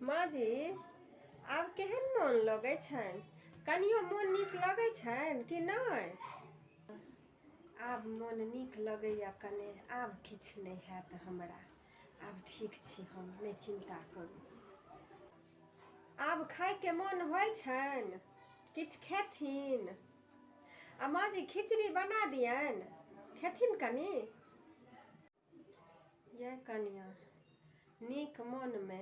माँ जी आब केहन मोन लगै छनि कनियो मोन नीक लगै छनि कि नहि आब मोन नीक लगैए कने आब किछु नहि हैत हमरा आब ठीक छी हम नहि चिन्ता करू आब खायके मोन होइ छनि किछु खेथिन आ माँ जी खिचड़ी बना दियनि खेथिन कनि यै कनियाँ, नीक मोनमे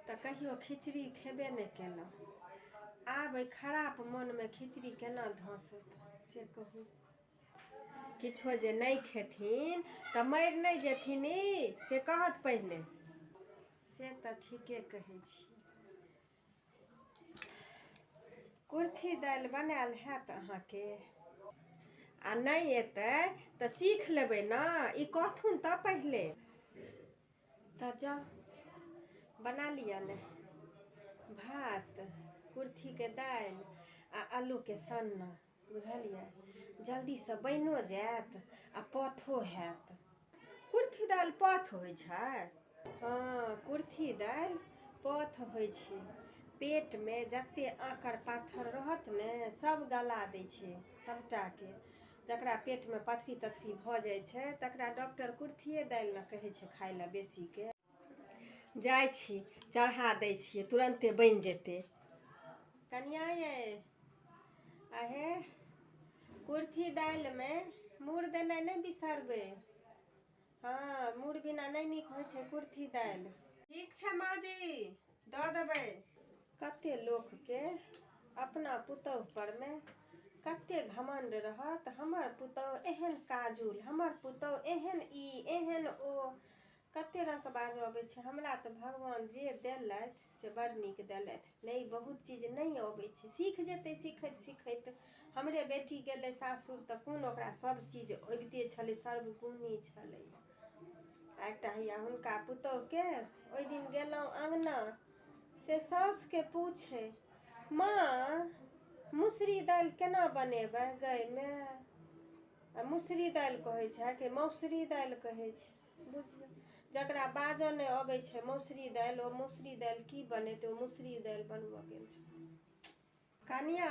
तँ कहियो खिचड़ी खेबे ने केलौं। आब ऐ खराप मोनमे खिचड़ी केना धँसत से कहू। किछो जे नै खेथिन तँ मरि नै जेथिन ई से कहथि पहिले। से तँ ठीके कहै छी। कुर्थी दालि बनायल हैत अहाँके आ नहि एतै तऽ सीख लेबै ने ई कहथुन तऽ पहिले तऽ जाउ बना लिअ ने भात कुर्थीके दालि आ आलूके सन्ना बुझलियै जल्दीसँ बनिओ जायत आ पथो हैत कुर्थी दालि पथ होइ छै हँ कुर्थी दालि पथ होइ छै पेटमे जतेक आँकर पाथर रहत ने सभ गला दै छै सभटाके जकरा पेटमे पथरी तथरी भऽ जाइ छै तकरा डॉक्टर कुर्थिए दालि ने कहै छै खाय लए बेसीके जाइ छी चढ़ा दै छियै तुरन्ते बनि जेतै कनिया ये अहे कुर्थी दालिमे मूर देनाइ नहि बिसरबै हँ मूर बिना नहि नीक होइ छै कुर्थी दालि ठीक छै माँ जी दऽ देबै कते लोकके अपना पुतहु परमे कते घमण्ड रहत हमर पुतहु एहन काजुल हमर पुतहु एहन ई एहन ओ कते रङ्गके बाजऽ अबै छै हमरा तऽ भगवान जे देलथि से बड़ नीक देलथि नहि बहुत चीज नहि अबै छै सीख जेतै सीखैत सीखैत हमरे बेटी गेलै सासुर तऽ कोन ओकरा सब चीज अबिते छलै सर्वगुणी छलै आ एकटा हैया हुनका पुतोहके ओहि दिन गेलहुँ अङ्गना से साउसके पूछे माँ मुसरी दालि केना बनेबै गैमे आ मुसरी दालि कहै छै कि मौसरी दालि कहै छै बुझियौ जकरा बाजऽ नहि अबै छै मौसरी दालि ओ मौसरी दालि की बनेतै ओ मौसरी दालि बनबऽ गेल छै कनिया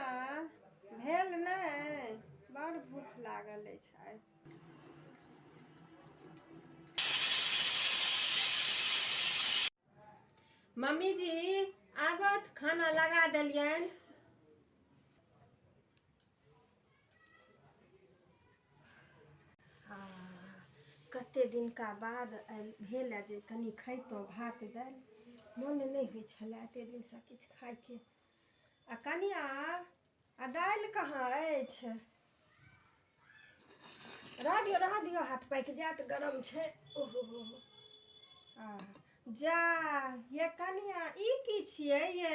भेल नहि बड़ भूख लागल अछि आइ मम्मी जी आबत खाना लगा देलियनि आ कते दिनका बाद भेल जे कनि खैतहुँ भात दालि मोन नहि होइ छलए एते दिनसँ किछु खायके आ कनिया आ दालि कहाँ अछि रह दियौ रह दियौ हाथ पाकि जायत गरम छै ओहो हो हो आ जा ये कनिया ई की छियै ये